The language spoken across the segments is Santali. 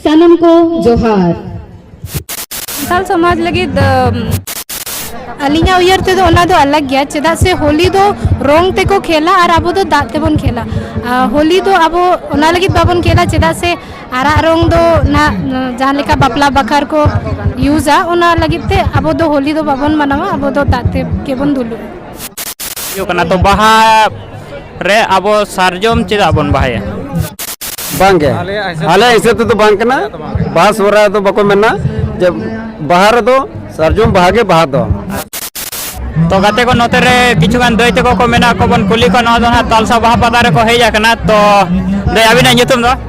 ᱥᱟᱱᱟᱢ ᱠᱚ ᱡᱚᱦᱟᱨ ᱥᱟᱱᱛᱟᱲ ᱥᱚᱢᱟᱡᱽ ᱞᱟᱹᱜᱤᱫ ᱟᱹᱞᱤᱧᱟᱜ ᱩᱭᱦᱟᱹᱨ ᱛᱮᱫᱚ ᱚᱱᱟ ᱫᱚ ᱟᱞᱟᱜᱽ ᱜᱮᱭᱟ ᱪᱮᱫᱟᱜ ᱥᱮ ᱦᱳᱞᱤ ᱫᱚ ᱨᱚᱝ ᱛᱮᱠᱚ ᱠᱷᱮᱞᱟ ᱟᱨ ᱟᱵᱚ ᱫᱚ ᱫᱟᱜ ᱛᱮᱵᱚᱱ ᱠᱷᱮᱞᱟ ᱦᱳᱞᱤ ᱫᱚ ᱟᱵᱚ ᱚᱱᱟ ᱞᱟᱹᱜᱤᱫ ᱵᱟᱵᱚᱱ ᱠᱷᱮᱞᱟ ᱪᱮᱫᱟᱜ ᱥᱮ ᱟᱨᱟᱜ ᱨᱚᱝ ᱫᱚ ᱚᱱᱟ ᱡᱟᱦᱟᱸ ᱞᱮᱠᱟ ᱵᱟᱯᱞᱟ ᱵᱟᱠᱷᱟᱨ ᱠᱚ ᱤᱭᱩᱡᱟ ᱚᱱᱟ ᱞᱟᱹᱜᱤᱫ ᱛᱮ ᱟᱵᱚ ᱫᱚ ᱦᱳᱞᱤ ᱫᱚ ᱵᱟᱵᱚᱱ ᱢᱟᱱᱟᱣᱟ ᱟᱵᱚ ᱫᱚ ᱫᱟᱜ ᱛᱮᱜᱮ ᱵᱚᱱ ᱫᱩᱞᱩᱜᱼᱟ ᱦᱩᱭᱩᱜ ᱠᱟᱱᱟ ᱛᱚ ᱵᱟᱦᱟ ᱨᱮ ᱟᱵᱚ ᱥᱟᱨᱡᱚᱢ ᱪᱮᱫᱟᱜ ᱵᱚᱱ ᱵᱟᱦᱟᱭᱟ ᱵᱟᱝᱜᱮ ᱟᱞᱮ ᱦᱤᱥᱟᱹᱵ ᱛᱮᱫᱚ ᱵᱟᱝ ᱠᱟᱱᱟ ᱵᱟᱦᱟ ᱥᱚᱦᱨᱟᱭ ᱫᱚ ᱵᱟᱠᱚ ᱢᱮᱱᱟ ᱡᱮ ᱵᱟᱦᱟ ᱨᱮᱫᱚ ᱥᱟᱨᱡᱚᱢ ᱵᱟᱦᱟ ᱜᱮ ᱵᱟᱦᱟ ᱫᱚ ᱛᱚ ᱜᱟᱛᱮ ᱠᱚ ᱱᱚᱛᱮ ᱨᱮ ᱠᱤᱪᱷᱩ ᱜᱟᱱ ᱫᱟᱹᱭ ᱛᱟᱠᱚ ᱠᱚ ᱢᱮᱱᱟᱜ ᱠᱚ ᱵᱚᱱ ᱠᱩᱞᱤ ᱠᱚᱣᱟ ᱱᱚᱣᱟ ᱫᱚ ᱦᱟᱸᱜ ᱛᱟᱞᱥᱟ ᱵᱟᱦᱟ ᱯᱟᱛᱟ ᱨᱮᱠᱚ ᱦᱮᱡ ᱟᱠᱟᱱᱟ ᱛᱚ ᱫᱟᱹᱭ ᱟᱹᱵᱤᱱᱟᱜ ᱧᱩᱛᱩᱢ ᱫᱚ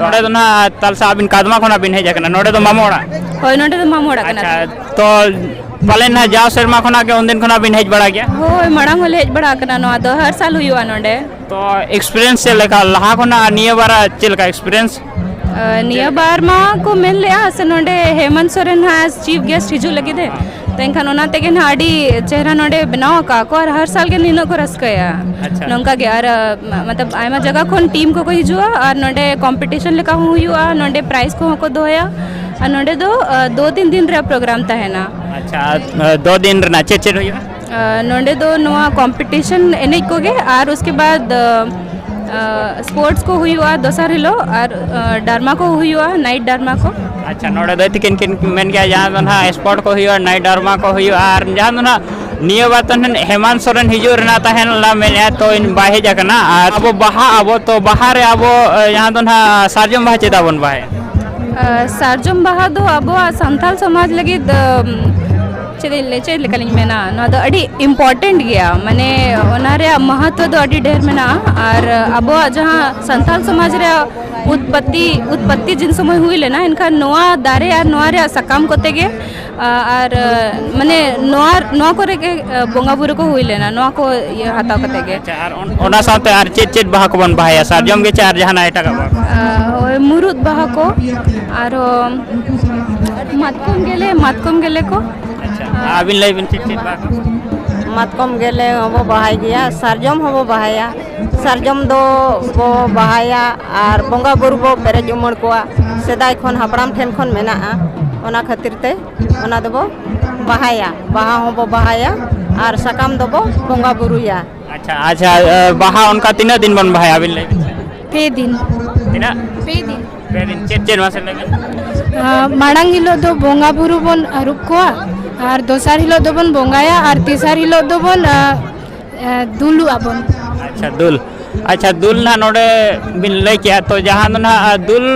ᱱᱚᱰᱮ ᱫᱚ ᱱᱟᱦᱟᱜ ᱛᱟᱞᱥᱟ ᱟᱹᱵᱤᱱ ᱠᱟᱫᱢᱟ ᱠᱷᱚᱱᱟᱜ ᱵᱤᱱ ᱦᱮᱡ ᱟᱠᱟᱱᱟ ᱱᱚᱰᱮ ᱫᱚ ᱢᱟᱢᱚ ᱚᱲᱟᱜ ᱦᱳᱭ ᱱᱚᱰᱮ ᱫᱚ ᱢᱟᱢᱚ ᱚᱲᱟᱜ ᱠᱟᱱᱟ ᱟᱪᱪᱷᱟ ᱛᱚ ᱯᱟᱞᱮᱱ ᱱᱟᱦᱟᱜ ᱡᱟᱣ ᱥᱮᱨᱢᱟ ᱠᱷᱚᱱᱟᱜ ᱜᱮ ᱩᱱᱫᱤᱱ ᱠᱷᱚᱱᱟᱜ ᱵᱤᱱ ᱦᱮᱡ ᱵᱟᱲᱟ ᱜᱮᱭᱟ ᱦᱳᱭ ᱢᱟᱲᱟᱝ ᱦᱚᱸᱞᱮ ᱦᱮᱡ ᱵᱟᱲᱟ ᱟᱠᱟᱱᱟ ᱱᱚᱣᱟ ᱫᱚ ᱦᱟᱨ ᱥᱟᱞ ᱦᱩᱭᱩᱜᱼᱟ ᱱᱚᱰᱮ ᱛᱚ ᱮᱠᱥᱯᱤᱨᱤᱭᱮᱱᱥ ᱪᱮᱫ ᱞᱮᱠᱟ ᱞᱟᱦᱟ ᱠᱷᱚᱱᱟᱜ ᱟᱨ ᱱᱤᱭᱟᱹ ᱵᱟᱨ ᱪᱮᱫ ᱞᱮᱠᱟ ᱮᱠᱥᱯᱤᱨᱤᱭᱮᱱᱥ ᱱᱤᱭᱟᱹ ᱵᱟᱨ ᱢᱟ ᱠᱚ ᱢᱮᱱ ᱞᱮᱜᱼᱟ ᱥᱮ ᱱᱚᱰᱮ ᱦᱮᱢᱚᱱᱛ ᱥᱚᱨᱮᱱ ᱦᱟᱸᱜ ᱪᱤᱯ ᱜᱮᱥᱴ ᱦᱤᱡᱩᱜ ᱞᱟᱹᱜᱤᱫ ᱮ ᱛᱚ ᱮᱱᱠᱷᱟᱱ ᱚᱱᱟ ᱛᱮᱜᱮ ᱱᱟᱦᱟᱜ ᱟᱹᱰᱤ ᱪᱮᱦᱨᱟ ᱱᱚᱰᱮ ᱵᱮᱱᱟᱣ ᱟᱠᱟᱫ ᱠᱚ ᱟᱨ ᱦᱟᱨ ᱥᱟᱞ ᱜᱮ ᱱᱤᱱᱟᱹᱜ ᱠᱚ ᱨᱟᱹᱥᱠᱟᱹᱭᱟ ᱟᱪᱪᱷᱟ ᱱᱚᱝᱠᱟ ᱜᱮ ᱟᱨ ᱢᱚᱛᱞᱚᱵ ᱟᱭᱢᱟ ᱡᱟᱭᱜᱟ ᱠᱷᱚᱱ ᱴᱤᱢ ᱠᱚᱠᱚ ᱦᱤᱡᱩᱜᱼᱟ ᱟᱨ ᱱᱚᱰᱮ ᱠᱚᱢᱯᱤᱴᱤᱥᱚᱱ ᱞᱮᱠᱟ ᱦᱚᱸ ᱦᱩᱭᱩᱜᱼᱟ ᱱᱚᱰᱮ ᱯᱨᱟᱭᱤᱡᱽ ᱠᱚᱦᱚᱸ ᱠᱚ ᱫᱚᱦᱚᱭᱟ ᱟᱨ ᱱᱚᱰᱮ ᱫᱚ ᱫᱩ ᱛᱤᱱ ᱫᱤᱱ ᱨᱮᱭᱟᱜ ᱯᱨᱳᱜᱨᱟᱢ ᱛᱟᱦᱮᱱᱟ ᱟᱪᱪᱷᱟ ᱫᱚ ᱫᱤᱱ ᱨᱮᱱᱟᱜ ᱪᱮᱫ ᱪᱮᱫ ᱦᱩᱭᱩᱜᱼᱟ ᱱᱚᱰᱮ ᱫᱚ ᱱᱚᱣᱟ ᱠᱚᱢᱯᱤᱴᱤᱥᱚᱱ ᱮᱱᱮᱡ ᱠᱚᱜᱮ ᱟᱨ ᱩᱥᱠᱮ ᱵᱟᱫᱽ ᱥᱯᱳᱨᱴᱥ ᱠᱚ ᱦᱩᱭᱩᱜᱼᱟ ᱫᱚᱥᱟᱨ ᱦᱤᱞᱳᱜ ᱟᱨ ᱰᱟᱨᱢᱟ ᱠᱚ ᱦᱩᱭᱩᱜᱼᱟ ᱱᱟᱭᱤᱴ ᱰᱟᱨᱢᱟ ᱠᱚ ᱟᱪᱪᱷᱟ ᱱᱚᱰᱮ ᱫᱚ ᱛᱤᱠᱤᱱ ᱠᱤᱱ ᱢᱮᱱ ᱜᱮᱭᱟ ᱡᱟᱦᱟᱸ ᱫᱚ ᱱᱟᱦᱟᱜ ᱥᱯᱳᱨᱴ ᱠᱚ ᱦᱩᱭᱩᱜᱼᱟ ᱱᱟᱭᱤᱴ ᱰᱟᱨᱢᱟ ᱠᱚ ᱦᱩᱭᱩᱜᱼᱟ ᱟᱨ ᱡᱟᱦᱟᱸ ᱫᱚ ᱱᱟᱦᱟᱜ ᱱᱤᱭᱟᱹ ᱵᱟᱨ ᱫᱚ ᱱᱟᱦᱟᱜ ᱦᱮᱢᱟᱱ ᱥᱚᱨᱮᱱ ᱦᱤᱡᱩᱜ ᱨᱮᱱᱟᱜ ᱛᱟᱦᱮᱸ ᱞᱮᱱᱟ ᱢᱮᱱᱮᱫᱼᱟ ᱛᱚ ᱤᱧ ᱵᱟᱭ ᱦᱮᱡ ᱟᱠᱟᱱᱟ ᱟᱨ ᱟᱵᱚ ᱵᱟᱦᱟ ᱟᱵᱚ ᱛᱚ ᱵᱟᱦᱟ ᱨᱮ ᱟᱵᱚ ᱡᱟᱦᱟᱸ ᱫᱚ ᱱᱟᱦᱟᱜ ᱥᱟᱨᱡᱚᱢ ᱵᱟᱦᱟ ᱪᱮᱫᱟᱜ ᱵᱚᱱ ᱵᱟᱦᱟᱭᱟ ᱥᱟᱨᱡᱚᱢ ᱵᱟᱦᱟ ᱫᱚ ᱟᱵᱚᱣᱟᱜ ᱥᱟᱱᱛᱟᱲ ᱥᱚᱢᱟᱡᱽ ᱞᱟᱹᱜᱤᱫ ᱪᱮᱫ ᱤᱧ ᱞᱟᱹᱭ ᱪᱮᱫ ᱞᱮᱠᱟᱞᱤᱧ ᱢᱮᱱᱟ ᱱᱚᱣᱟ ᱫᱚ ᱟᱹᱰᱤ ᱤᱢᱯᱚᱨᱴᱮᱱᱴ ᱜᱮᱭᱟ ᱢᱟᱱᱮ ᱚᱱᱟ ᱨᱮᱭᱟᱜ ᱢᱚᱦᱚᱛᱛᱚ ᱫᱚ ᱟᱹᱰᱤ ᱰᱷᱮᱨ ᱢᱮᱱᱟᱜᱼᱟ ᱟᱨ ᱟᱵᱚᱣᱟᱜ ᱡᱟᱦᱟᱸ ᱥᱟᱱᱛᱟᱲ ᱥᱚᱢᱟᱡᱽ ᱨᱮᱭᱟᱜ ᱩᱛᱯᱚᱛᱛᱤ ᱩᱛᱯᱚᱛᱛᱤ ᱡᱤᱱ ᱥᱚᱢᱚᱭ ᱦᱩᱭ ᱞᱮᱱᱟ ᱮᱱᱠᱷᱟᱱ ᱱᱚᱣᱟ ᱫᱟᱨᱮ ᱟᱨ ᱱᱚᱣᱟ ᱨᱮᱭᱟᱜ ᱥᱟᱠᱟᱢ ᱠᱚᱛᱮ ᱜᱮ ᱟᱨ ᱢᱟᱱᱮ ᱱᱚᱣᱟ ᱱᱚᱣᱟ ᱠᱚᱨᱮ ᱜᱮ ᱵᱚᱸᱜᱟ ᱵᱩᱨᱩ ᱠᱚ ᱦᱩᱭ ᱞᱮᱱᱟ ᱱᱚᱣᱟ ᱠᱚ ᱤᱭᱟᱹ ᱦᱟᱛᱟᱣ ᱠᱟᱛᱮ ᱜᱮ ᱟᱨ ᱚᱱᱟ ᱥᱟᱶᱛᱮ ᱟᱨ ᱪᱮᱫ ᱪᱮᱫ ᱵᱟᱦᱟ ᱠᱚᱵᱚᱱ ᱵᱟᱦᱟᱭᱟ ᱥᱟᱨᱡᱚᱢ ᱜᱮ ᱪᱮ ᱟᱨ ᱡᱟᱦᱟᱱᱟᱜ ᱮᱴᱟᱜᱟᱜ ᱵᱟᱦᱟ ᱦᱳᱭ ᱢᱩᱨᱩᱫ ᱵᱟᱦᱟ ᱠᱚ ᱟᱨᱦᱚᱸ ᱢᱟᱛᱠᱚᱢ ᱜᱮᱞᱮ ᱢᱟᱛᱠᱚᱢ ᱜᱮᱞᱮ ᱠᱚ ᱟᱪᱪᱷᱟ ᱟᱹᱵᱤᱱ ᱞᱟᱹᱭ ᱵᱤᱱ ᱪᱮᱫ ᱪᱮᱫ ᱵᱟᱦᱟ ᱠᱚ ᱢᱟᱛᱠᱚᱢ ᱜᱮᱞᱮ ᱦᱚᱸᱵᱚ ᱵᱟᱦᱟᱭ ᱜᱮᱭᱟ ᱥᱟᱨᱡᱚᱢ ᱦᱚᱸᱵᱚ ᱵᱟᱦᱟᱭᱟ ᱥᱟᱨᱡᱚᱢ ᱫᱚ ᱵᱚ ᱵᱟᱦᱟᱭᱟ ᱟᱨ ᱵᱚᱸᱜᱟ ᱵᱩᱨᱩ ᱵᱚ ᱯᱮᱨᱮᱡ ᱩᱢᱟᱹᱲ ᱠᱚᱣᱟ ᱥᱮᱫᱟᱭ ᱠᱷᱚᱱ ᱦᱟᱯᱲᱟᱢ ᱴᱷᱮᱱ ᱠᱷᱚᱱ ᱢᱮᱱᱟᱜᱼᱟ ᱚᱱᱟ ᱠᱷᱟᱹᱛᱤᱨ ᱛᱮ ᱚᱱᱟ ᱫᱚᱵᱚ ᱵᱟᱦᱟᱭᱟ ᱵᱟᱦᱟ ᱦᱚᱸᱵᱚ ᱵᱟᱦᱟᱭᱟ ᱟᱨ ᱥᱟᱠᱟᱢ ᱫᱚᱵᱚ ᱵᱚᱸᱜᱟ ᱵᱩᱨᱩᱭᱟ ᱟᱪᱪᱷᱟ ᱟᱪᱪᱷᱟ ᱵᱟᱦᱟ ᱚᱱᱠᱟ ᱛᱤᱱᱟᱹᱜ ᱫᱤᱱ ᱵᱚᱱ ᱵᱟᱦᱟᱭᱟ ᱟᱹᱵᱤᱱ ᱞᱟᱹᱭ ᱵᱤᱱ ᱯᱮ ᱫᱤᱱ ᱛᱤᱱᱟᱹᱜ ᱯᱮ ᱫᱤᱱ ᱯᱮ ᱫᱤᱱ ᱪᱮᱫ ᱪᱮᱫ ᱢᱟᱥᱮ ᱞᱟᱹᱭ ᱵᱤᱱ ᱢᱟᱲᱟᱝ ᱦᱤᱞᱳᱜ ᱫᱚ ᱵᱚᱸᱜᱟ ᱵᱩᱨᱩ ᱵᱚᱱ ᱟᱹᱨᱩᱵ ᱠᱚᱣᱟ ᱟᱨ ᱫᱚᱥᱟᱨ ᱦᱤᱞᱳᱜ ᱫᱚᱵᱚᱱ ᱵᱚᱸᱜᱟᱭᱟ ᱟᱨ ᱛᱮᱥᱟᱨ ᱦᱤᱞᱳᱜ ᱫᱚᱵᱚᱱ ᱫᱩᱞᱩᱜ ᱟᱵᱚᱱ ᱟᱪᱪᱷᱟ ᱫᱩᱞ ᱟᱪᱪᱷᱟ ᱫᱩᱞ ᱱᱟᱦᱟᱜ ᱱᱚᱰᱮ ᱵᱤᱱ ᱞᱟᱹᱭ ᱠᱮᱜᱼᱟ ᱛᱚ ᱡᱟᱦᱟᱸ ᱫᱚ ᱱᱟᱦᱟᱜ ᱫᱩᱞ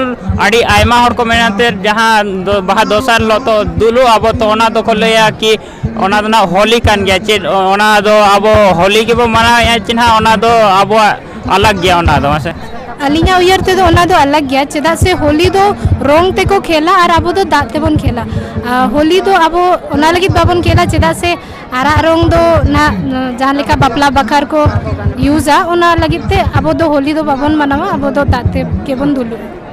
ᱟᱹᱰᱤ ᱟᱭᱢᱟ ᱦᱚᱲ ᱠᱚ ᱢᱮᱱᱟ ᱛᱮ ᱡᱟᱦᱟᱸ ᱵᱟᱦᱟ ᱫᱚᱥᱟᱨ ᱦᱤᱞᱳᱜ ᱛᱚ ᱫᱩᱞᱩᱜ ᱟᱵᱚ ᱛᱚ ᱚᱱᱟ ᱫᱚᱠᱚ ᱞᱟᱹᱭᱟ ᱠᱤ ᱚᱱᱟ ᱫᱚ ᱱᱟᱦᱟᱜ ᱦᱳᱞᱤ ᱠᱟᱱ ᱜᱮᱭᱟ ᱪᱮᱫ ᱚᱱᱟ ᱫᱚ ᱟᱵᱚ ᱦᱳᱞᱤ ᱜᱮᱵᱚ ᱢᱟᱱᱟᱣᱮᱫᱼᱟ ᱪᱮ ᱱᱟᱦᱟᱜ ᱚᱱᱟ ᱫᱚ ᱟᱵᱚᱣᱟᱜ ᱟᱞᱟᱜᱽ ᱜᱮᱭᱟ ᱚᱱᱟ ᱫᱚ ᱢᱟᱥᱮ ᱟᱹᱞᱤᱧᱟᱜ ᱩᱭᱦᱟᱹᱨ ᱛᱮᱫᱚ ᱚᱱᱟ ᱫᱚ ᱟᱞᱟᱜᱽ ᱜᱮᱭᱟ ᱪᱮᱫᱟᱜ ᱥᱮ ᱦᱳᱞᱤ ᱫᱚ ᱨᱚᱝ ᱛᱮᱠᱚ ᱠᱷᱮᱞᱟ ᱟᱨ ᱟᱵᱚ ᱫᱚ ᱫᱟᱜ ᱛᱮᱵᱚᱱ ᱠᱷᱮᱞᱟ ᱟᱨ ᱦᱳᱞᱤ ᱫᱚ ᱟᱵᱚ ᱚᱱᱟ ᱞᱟᱹᱜᱤᱫ ᱵᱟᱵᱚᱱ ᱠᱷᱮᱞᱟ ᱪᱮᱫᱟᱜ ᱥᱮ ᱟᱨᱟᱜ ᱨᱚᱝ ᱫᱚ ᱱᱟᱜ ᱡᱟᱦᱟᱸ ᱞᱮᱠᱟ ᱵᱟᱯᱞᱟ ᱵᱟᱠᱷᱨᱟ ᱠᱚ ᱤᱭᱩᱡᱟ ᱚᱱᱟ ᱞᱟᱹᱜᱤᱫ ᱛᱮ ᱟᱵᱚ ᱫᱚ ᱦᱳᱞᱤ ᱫᱚ ᱵᱟᱵᱚᱱ ᱢᱟᱱᱟᱣᱟ ᱟᱵᱚ ᱫᱚ ᱫᱟᱜ ᱛᱮᱜᱮ ᱵᱚᱱ ᱫᱩᱞᱩᱜᱼᱟ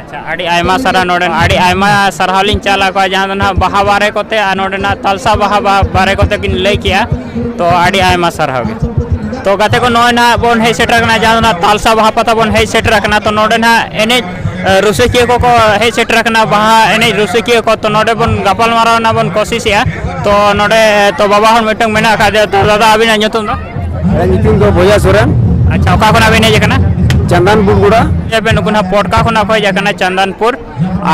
ᱟᱪᱪᱷᱟ ᱟᱹᱰᱤ ᱟᱭᱢᱟ ᱥᱟᱨᱦᱟᱣ ᱱᱚᱰᱮ ᱟᱹᱰᱤ ᱟᱭᱢᱟ ᱥᱟᱨᱦᱟᱣ ᱞᱤᱧ ᱪᱟᱞ ᱟᱠᱚᱣᱟ ᱡᱟᱦᱟᱸ ᱫᱚ ᱱᱟᱦᱟᱜ ᱵᱟᱦᱟ ᱵᱟᱨᱮ ᱠᱚᱛᱮ ᱟᱨ ᱱᱚᱰᱮᱱᱟᱜ ᱛᱟᱞᱥᱟ ᱵᱟᱦᱟ ᱵᱟᱨᱮ ᱠᱚᱛᱮ ᱵᱤᱱ ᱞᱟᱹᱭ ᱠᱮᱜᱼᱟ ᱛᱚ ᱟᱹᱰᱤ ᱟᱭᱢᱟ ᱥᱟᱨᱦᱟᱣ ᱜᱮ ᱛᱚ ᱜᱟᱛᱮ ᱠᱚ ᱱᱚᱜᱼᱚᱭ ᱱᱟᱦᱟᱜ ᱵᱚᱱ ᱦᱮᱡ ᱥᱮᱴᱮᱨ ᱟᱠᱟᱱᱟ ᱡᱟᱦᱟᱸ ᱫᱚ ᱱᱟᱦᱟᱜ ᱛᱟᱞᱥᱟ ᱵᱟᱦᱟ ᱯᱟᱛᱟ ᱵᱚᱱ ᱦᱮᱡ ᱥᱮᱴᱮᱨ ᱟᱠᱟᱱᱟ ᱛᱚ ᱱᱚᱰᱮ ᱱᱟᱦᱟᱜ ᱮᱱᱮᱡ ᱨᱩᱥᱤᱠᱤᱭᱟᱹ ᱠᱚᱠᱚ ᱦᱮᱡ ᱥᱮᱴᱮᱨ ᱟᱠᱟᱱᱟ ᱵᱟᱦᱟ ᱮᱱᱮᱡ ᱨᱩᱥᱤᱠᱤᱭᱟᱹ ᱠᱚ ᱛᱚ ᱱᱚᱰᱮ ᱵᱚᱱ ᱜᱟᱯᱟᱞᱢᱟᱨᱟᱣ ᱨᱮᱱᱟᱜ ᱵᱚᱱ ᱠᱚᱥᱤᱥᱮᱜᱼᱟ ᱛᱚ ᱱᱚᱰᱮ ᱛᱚ ᱵᱟᱵᱟ ᱦᱚᱲ ᱢᱤᱫᱴᱟᱝ ᱢᱮᱱᱟᱜ ᱟᱠᱟᱫᱮᱭᱟ ᱛᱚ ᱫᱟᱫᱟ ᱟᱹᱵᱤᱱᱟᱜ ᱧᱩᱛᱩᱢ ᱫᱚ ᱤᱧᱟᱹᱜ ᱧᱩᱛᱩᱢ ᱫᱚ ᱵᱚᱭᱟ ᱥᱚᱨᱮᱱ ᱟᱪᱪᱷᱟ ᱚᱠᱟ ᱠᱷᱚᱱᱟᱜ ᱵᱮᱱ ᱦᱮᱡ ᱟᱠᱟᱱᱟ ᱪᱟᱱᱫᱟᱱᱯᱩᱨ ᱜᱚᱲᱟ ᱵᱮᱱ ᱱᱩᱠᱩ ᱱᱟᱜ ᱯᱚᱴᱠᱟ ᱠᱷᱚᱱᱟᱜ ᱠᱚ ᱦᱮᱡ ᱟᱠᱟᱱᱟ ᱪᱟᱱᱫᱟᱱᱯᱩᱨ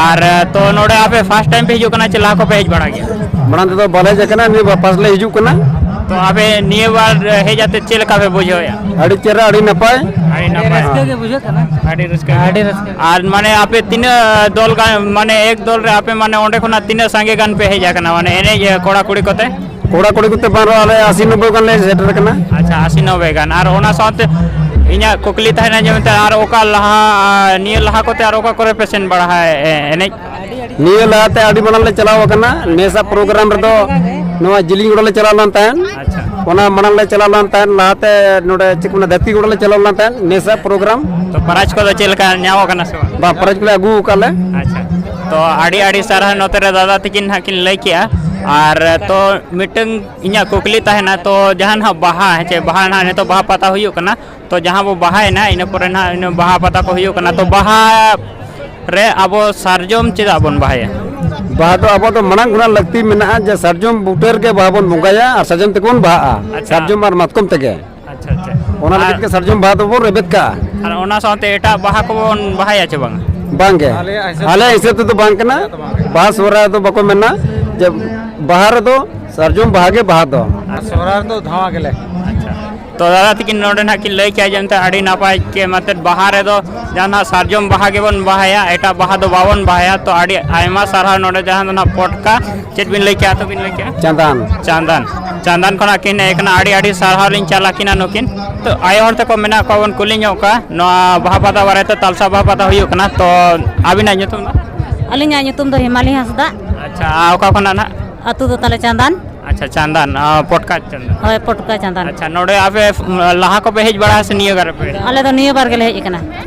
ᱟᱨ ᱛᱚ ᱱᱚᱰᱮ ᱟᱯᱮ ᱯᱷᱟᱥᱴ ᱴᱟᱭᱤᱢ ᱯᱮ ᱦᱤᱡᱩᱜ ᱠᱟᱱᱟ ᱪᱮ ᱞᱟᱦᱟ ᱠᱚᱯᱮ ᱦᱮᱡ ᱵᱟᱲᱟ ᱜᱮᱭᱟ ᱢᱟᱲᱟᱝ ᱛᱮᱫᱚ ᱵᱟᱞᱮ ᱦᱮᱡ ᱟᱠᱟᱱᱟ ᱱᱤᱭᱟᱹ ᱵᱟᱨ ᱯᱟᱥ ᱞᱮ ᱦᱤᱡᱩᱜ ᱠᱟᱱᱟ ᱛᱚ ᱟᱯᱮ ᱱᱤᱭᱟᱹ ᱵᱟᱨ ᱦᱮᱡ ᱟᱛᱮ ᱪᱮᱫ ᱞᱮᱠᱟ ᱯᱮ ᱵᱩᱡᱷᱟᱹᱣᱮᱫᱼᱟ ᱟᱹᱰᱤ ᱪᱮᱦᱨᱟ ᱟᱹᱰᱤ ᱱᱟᱯᱟᱭ ᱟᱹᱰᱤ ᱱᱟᱯᱟᱭ ᱟᱹᱰᱤ ᱨᱟᱹᱥᱠᱟᱹ ᱟᱹᱰᱤ ᱨᱟᱹᱥᱠᱟᱹ ᱟᱨ ᱢᱟᱱᱮ ᱟᱯᱮ ᱛᱤᱱᱟᱹᱜ ᱫᱚᱞ ᱜᱟᱱ ᱢᱟᱱᱮ ᱮᱠ ᱫᱚᱞ ᱨᱮ ᱟᱯᱮ ᱢᱟᱱᱮ ᱚᱸᱰᱮ ᱠᱷᱚᱱᱟᱜ ᱛᱤᱱᱟᱹᱜ ᱥᱟᱸᱜᱮ ᱜᱟᱱ ᱯᱮ ᱦᱮᱡ ᱟᱠᱟᱱᱟ ᱢᱟᱱᱮ ᱮᱱᱮᱡ ᱠᱚᱲᱟ ᱠᱩᱲᱤ ᱠᱚᱛᱮ ᱠᱚᱲᱟ ᱠᱩᱲᱤ ᱠᱚᱛᱮ ᱵᱟᱝ ᱨᱮᱦᱚᱸ ᱟᱞᱮ ᱟᱥᱤ ᱱᱚᱵᱵᱳᱭ ᱜᱟᱱ ᱞᱮ ᱥᱮᱴᱮᱨ ᱟᱠᱟᱱᱟ ᱟᱪᱪᱷᱟ ᱟᱥᱤ ᱱᱚᱵᱵᱳᱭ ᱜᱟᱱ ᱟᱨ ᱚᱱᱟ ᱥᱟᱶᱛᱮ ᱤᱧᱟᱹᱜ ᱠᱩᱠᱞᱤ ᱛᱟᱦᱮᱱᱟ ᱡᱮ ᱢᱮᱱᱛᱮ ᱟᱨ ᱚᱠᱟ ᱞᱟᱦᱟ ᱱᱤᱭᱟᱹ ᱞᱟᱦᱟ ᱠᱚᱛᱮ ᱟᱨ ᱚᱠᱟ ᱠᱚᱨᱮ ᱯᱮ ᱥᱮᱱ ᱵᱟᱲᱟ ᱮᱱᱮᱡ ᱱᱤᱭᱟᱹ ᱞᱟᱦᱟᱛᱮ ᱟᱹᱰᱤ ᱢᱟᱲᱟᱝ ᱞᱮ ᱪᱟᱞᱟᱣ ᱟᱠᱟᱱᱟ ᱱᱮᱥᱟ ᱯᱨᱳᱜᱨᱟᱢ ᱨᱮᱫᱚ ᱱᱚᱣᱟ ᱡᱤᱞᱤᱧ ᱜᱚᱲᱟ ᱞᱮ ᱪᱟᱞᱟᱣ ᱞᱮᱱ ᱛᱟᱦᱮᱸᱫ ᱟᱪᱪᱷᱟ ᱚᱱᱟ ᱢᱟᱲᱟᱝ ᱞᱮ ᱪᱟᱞᱟᱣ ᱞᱮᱱ ᱛᱟᱦᱮᱸᱫ ᱞᱟᱦᱟᱛᱮ ᱱᱚᱰᱮ ᱪᱮᱫ ᱠᱚ ᱢᱮᱱᱟ ᱫᱷᱟᱹᱨᱛᱤ ᱜᱚᱲᱟ ᱞᱮ ᱪᱟᱞᱟᱣ ᱞᱮᱱ ᱛᱟᱦᱮᱸᱫ ᱱᱮᱥᱟ ᱯᱨᱳᱜᱨᱟᱢ ᱛᱚ ᱯᱨᱟᱭᱤᱡᱽ ᱠᱚᱫᱚ ᱪᱮᱫ ᱞᱮᱠᱟ ᱧᱟᱢ ᱟᱠᱟᱱᱟ ᱥᱮ ᱵᱟᱝ ᱯᱨᱟᱭᱤᱡᱽ ᱠᱚᱞᱮ ᱟᱹᱜᱩ ᱟᱠᱟᱫ ᱞᱮ ᱟᱪᱪᱷᱟ ᱛᱚ ᱟᱹᱰᱤ ᱟᱹᱰᱤ ᱥᱟᱨᱦᱟᱣ ᱱᱚᱛᱮ ᱨᱮ ᱫᱟᱫᱟ ᱛᱟᱹᱠᱤᱱ ᱦᱟᱸᱜ ᱠᱤᱱ ᱞᱟᱹᱭ ᱠᱮᱜᱼᱟ ᱟᱨ ᱛᱚ ᱢᱤᱫᱴᱟᱝ ᱤᱧᱟᱹᱜ ᱠᱩᱠᱞᱤ ᱛᱟᱦᱮᱱᱟ ᱛᱚ ᱡᱟᱦᱟᱸ ᱱᱟᱦᱟᱜ ᱵᱟᱦᱟ ᱦᱮᱸ ᱪᱮ ᱵᱟᱦᱟ ᱱᱟᱦᱟᱜ ᱱᱤᱛᱚᱜ ᱵᱟᱦᱟ ᱯᱟᱛᱟ ᱦᱩᱭᱩᱜ ᱠᱟᱱᱟ ᱛᱚ ᱡᱟᱦᱟᱸ ᱵᱚ ᱵᱟᱦᱟᱭᱮᱱᱟ ᱤᱱᱟᱹ ᱯᱚᱨᱮ ᱱᱟᱦᱟᱜ ᱤᱱᱟᱹ ᱵᱟᱦᱟ ᱯᱟᱛᱟ ᱠᱚ ᱦᱩᱭᱩᱜ ᱠᱟᱱᱟ ᱛᱚ ᱵᱟᱦᱟ ᱨᱮ ᱟᱵᱚ ᱥᱟᱨᱡᱚᱢ ᱪᱮᱫᱟᱜ ᱵᱚᱱ ᱵᱟᱦᱟᱭᱟ ᱵᱟᱦᱟ ᱫᱚ ᱟᱵᱚ ᱫᱚ ᱢᱟᱲᱟᱝ ᱠᱷᱚᱱᱟᱜ ᱞᱟᱹᱠᱛᱤ ᱢᱮᱱᱟᱜᱼᱟ ᱡᱮ ᱥᱟᱨᱡᱚᱢ ᱵᱩᱴᱟᱹ ᱨᱮᱜᱮ ᱵᱟᱦᱟ ᱵᱚᱱ ᱵᱚᱸᱜᱟᱭᱟ ᱟᱨ ᱥᱟᱨᱡᱚᱢ ᱛᱮᱜᱮ ᱵᱚᱱ ᱵᱟᱦᱟᱜᱼᱟ ᱟᱪᱪᱷᱟ᱾ ᱥᱟᱨᱡᱚᱢ ᱟᱨ ᱢᱟᱛᱠᱚᱢ ᱛᱮᱜᱮ ᱟᱪᱪᱷᱟ ᱟᱪᱪᱷᱟ ᱚᱱᱟ ᱞᱟᱹᱜᱤᱫ ᱜᱮ ᱥᱟᱨᱡᱚᱢ ᱵᱟᱦᱟ ᱫᱚᱵᱚᱱ ᱨᱮᱵᱮᱫ ᱠᱟᱜᱼᱟ ᱟᱨ ᱚᱱᱟ ᱥᱟᱶᱛᱮ ᱮᱴᱟᱜ ᱵᱟᱦᱟ ᱠᱚᱵᱚᱱ ᱵᱟᱦᱟᱭᱟ ᱪᱮ ᱵᱟᱝ ᱵᱟᱝᱜᱮ ᱟᱞᱮ ᱦᱤᱥᱟᱹᱵ ᱛᱮᱫᱚ ᱵᱟᱝ ᱠᱟᱱᱟ ᱵᱟᱦᱟ ᱥᱚᱦᱨᱟᱭ ᱫᱚ ᱵᱟᱠᱚ ᱢᱮᱱᱟ ᱡᱮ ᱵᱟᱦᱟ ᱨᱮᱫᱚ ᱥᱟᱨᱡᱚᱢ ᱵᱟᱦᱟ ᱜᱮ ᱵᱟᱦᱟ ᱫᱚ ᱥᱚᱦᱨᱟᱭ ᱫᱚ ᱫᱷᱟᱣᱟ ᱜᱮᱞᱮ ᱟᱪᱪᱷᱟ ᱛᱚ ᱫᱟᱫᱟ ᱛᱤᱠᱤᱱ ᱱᱚᱰᱮ ᱱᱟᱜ ᱠᱤᱱ ᱞᱟᱹᱭ ᱠᱮᱜᱼᱟ ᱡᱮ ᱮᱱᱛᱮ ᱟᱹᱰᱤ ᱱᱟᱯᱟᱭ ᱠᱮ ᱢᱟᱛᱮ ᱵᱟᱦᱟ ᱨᱮᱫᱚ ᱡᱟᱦᱟᱸ ᱱᱟᱜ ᱥᱟᱨᱡᱚᱢ ᱵᱟᱦᱟ ᱜᱮᱵᱚᱱ ᱵᱟᱦᱟᱭᱟ ᱮᱴᱟᱜ ᱵᱟᱦᱟ ᱫᱚ ᱵᱟᱵᱚᱱ ᱵᱟᱦᱟᱭᱟ ᱛᱚ ᱟᱹᱰᱤ ᱟᱭᱢᱟ ᱥᱟᱨᱦᱟᱣ ᱱᱚᱰᱮ ᱡᱟᱦᱟᱸ ᱫᱚ ᱱᱟᱜ ᱯᱚᱴᱠᱟ ᱪᱮᱫ ᱵᱤᱱ ᱞᱟᱹᱭ ᱠᱮᱜᱼᱟ ᱛᱚ ᱵᱤᱱ ᱞᱟᱹᱭ ᱠᱮᱜᱼᱟ ᱪᱟᱸᱫᱟᱱ ᱪᱟᱸᱫᱟᱱ ᱪᱟᱸᱫᱟᱱ ᱠᱷᱚᱱᱟᱜ ᱠᱤᱱ ᱦᱮᱡ ᱠᱟᱱᱟ ᱟᱹᱰᱤ ᱟᱹᱰᱤ ᱥᱟᱨᱦᱟᱣ ᱞᱤᱧ ᱪᱟᱞ ᱟᱹᱠᱤᱱᱟ ᱱᱩᱠᱤᱱ ᱛᱚ ᱟᱭᱳ ᱦᱚᱲ ᱛᱟᱠᱚ ᱢᱮᱱᱟᱜ ᱠᱚᱣᱟ ᱵᱚᱱ ᱠᱩᱞᱤ ᱧᱚᱜ ᱠᱚᱣᱟ ᱱᱚᱣᱟ ᱵᱟᱦᱟ ᱯᱟᱛᱟ ᱵᱟᱨᱮ ᱛᱮ ᱛᱟᱞᱥᱟ ᱵᱟᱦᱟ ᱯᱟᱛᱟ ᱦᱩᱭᱩᱜ ᱠᱟᱱᱟ ᱛᱚ ᱟᱹᱵᱤᱱᱟᱜ ᱧᱩᱛᱩᱢ ᱫᱚ ᱟᱹᱞᱤᱧᱟᱜ ᱧᱩᱛᱩᱢ ᱫᱚ ᱦᱮᱢᱟᱞᱤ ᱦᱟᱸᱥᱫᱟ ᱟᱪᱪᱷᱟ ᱟᱨ ᱚᱠᱟ ᱠᱷᱚᱱᱟᱜ ᱱᱟᱜ ᱟᱹᱛᱩ ᱫᱚ ᱛᱟᱞᱮ ᱪᱟᱸᱫᱟᱱ ᱟᱪᱪᱷᱟ ᱪᱟᱸᱫᱟᱱ ᱟᱨ ᱯᱚᱴᱠᱟ ᱪᱟᱸᱫᱟᱱ ᱦᱳᱭ ᱯᱚᱴᱠᱟ ᱪᱟᱸᱫᱟᱱ ᱟᱪᱪᱷᱟ ᱱᱚᱰᱮ ᱟᱯᱮ ᱞᱟᱦᱟ ᱠᱚᱯᱮ ᱦᱮᱡ ᱵᱟᱲᱟ ᱥᱮ ᱱᱤᱭᱟᱹ ᱵᱟᱨ ᱯᱮ ᱟᱞᱮ ᱫᱚ ᱱᱤᱭᱟᱹ ᱵᱟᱨ ᱜᱮᱞᱮ ᱦᱮᱡ ᱟᱠᱟᱱᱟ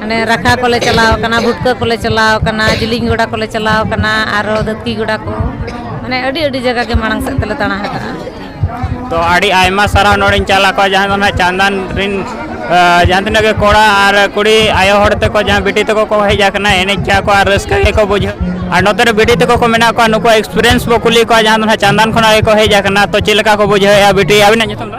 ᱢᱟᱱᱮ ᱨᱟᱠᱷᱟ ᱠᱚᱞᱮ ᱪᱟᱞᱟᱣ ᱠᱟᱱᱟ ᱵᱷᱩᱴᱠᱟᱹ ᱠᱚᱞᱮ ᱪᱟᱞᱟᱣ ᱠᱟᱱᱟ ᱡᱤᱞᱤᱧ ᱜᱚᱰᱟ ᱠᱚᱞᱮ ᱪᱟᱞᱟᱣ ᱠᱟᱱᱟ ᱟᱨᱚ ᱫᱟᱹᱛᱠᱤ ᱜᱚᱰᱟ ᱠᱚ ᱢᱟᱱᱮ ᱟᱹᱰᱤ ᱟᱹᱰᱤ ᱡᱟᱭᱜᱟ ᱜᱮ ᱢᱟᱲᱟᱝ ᱥᱮᱫ ᱛᱮᱞᱮ ᱫᱟᱬᱟ ᱟᱠᱟᱫᱼᱟ ᱛᱚ ᱟᱹᱰᱤ ᱟᱭᱢᱟ ᱥᱟᱨᱦᱟᱣ ᱱᱚᱰᱮᱧ ᱪᱟᱞᱟᱣ ᱠᱚᱜᱼᱟ ᱡᱟᱦᱟᱸ ᱫᱚ ᱱᱟᱦᱟᱜ ᱪᱟᱸᱫᱟᱱ ᱨᱤᱱ ᱡᱟᱦᱟᱸ ᱛᱤᱱᱟᱹᱜ ᱜᱮ ᱠᱚᱲᱟ ᱟᱨ ᱠᱩᱲᱤ ᱟᱭᱳ ᱦᱚᱲ ᱛᱮᱠᱚ ᱡᱟᱦᱟᱸ ᱵᱤᱴᱤ ᱛᱮᱠᱚ ᱠᱚ ᱦᱮᱡ ᱟᱠᱟᱱᱟ ᱮᱱᱮᱡ ᱠᱮᱜᱼᱟ ᱠᱚ ᱟᱨ ᱨᱟᱹᱥᱠᱟᱹ ᱜᱮᱠᱚ ᱵᱩᱡᱷᱟᱹᱣ ᱟᱨ ᱱᱚᱛᱮ ᱨᱮ ᱵᱤᱴᱤ ᱛᱮᱠᱚ ᱠᱚ ᱢᱮᱱᱟᱜ ᱠᱚᱣᱟ ᱱᱩᱠᱩᱣᱟᱜ ᱮᱠᱥᱯᱨᱤᱭᱮᱱᱥ ᱵᱚ ᱠᱩᱞᱤ ᱠᱚᱣᱟ ᱡᱟᱦᱟᱸ ᱫᱚ ᱱᱟᱦᱟᱜ ᱪᱟᱸᱫᱟᱱ ᱠᱷᱚᱱᱟᱜ ᱜᱮᱠᱚ ᱦᱮᱡ ᱟᱠᱟᱱᱟ ᱛᱚ ᱪᱮᱫ ᱞᱮᱠᱟ ᱠᱚ ᱵᱩᱡᱷᱟᱹᱣᱮᱜᱼᱟ ᱵᱤᱴᱤ ᱟᱹᱵᱤᱱᱟᱜ ᱧᱩᱛᱩᱢ ᱫᱚ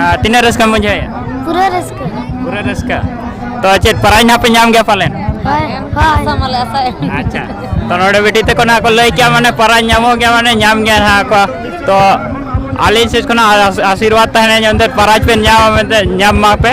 ᱟᱨ ᱛᱤᱱᱟᱹᱜ ᱨᱟᱹᱥᱠᱟᱹᱢ ᱵᱩᱡᱷᱟᱹᱣᱮᱫᱼᱟ ᱯᱩᱨᱟᱹ ᱨᱟᱹᱥᱠᱟᱹ ᱯᱩᱨᱟᱹ ᱨᱟᱹᱥᱠᱟᱹ ᱛᱚ ᱪᱮᱫ ᱯᱨᱟᱭᱤᱡᱽ ᱱᱟᱯᱮ ᱧᱟᱢ ᱜᱮᱭᱟ ᱯᱟᱞᱮᱱ ᱟᱪᱪᱷᱟ ᱛᱚ ᱱᱚᱰᱮ ᱵᱤᱴᱤ ᱛᱟᱠᱚ ᱱᱟᱦᱟᱜ ᱠᱚ ᱞᱟᱹᱭ ᱠᱮᱜᱼᱟ ᱢᱟᱱᱮ ᱯᱨᱟᱭᱤᱡᱽ ᱧᱟᱢᱚᱜ ᱜᱮᱭᱟ ᱢᱟᱱᱮ ᱧᱟᱢ ᱜᱮᱭᱟ ᱱᱟᱦᱟᱜ ᱠᱚ ᱛᱚ ᱟᱹᱞᱤᱧ ᱥᱮᱫ ᱠᱷᱚᱱᱟᱜ ᱟᱥᱤᱨᱵᱟᱫᱽ ᱛᱟᱦᱮᱱᱟ ᱡᱮᱢᱛᱮ ᱯᱨᱟᱭᱤᱡᱽ ᱯᱮ ᱧᱟᱢᱟ ᱢᱮᱱᱛᱮ ᱧᱟᱢ ᱢᱟᱯᱮ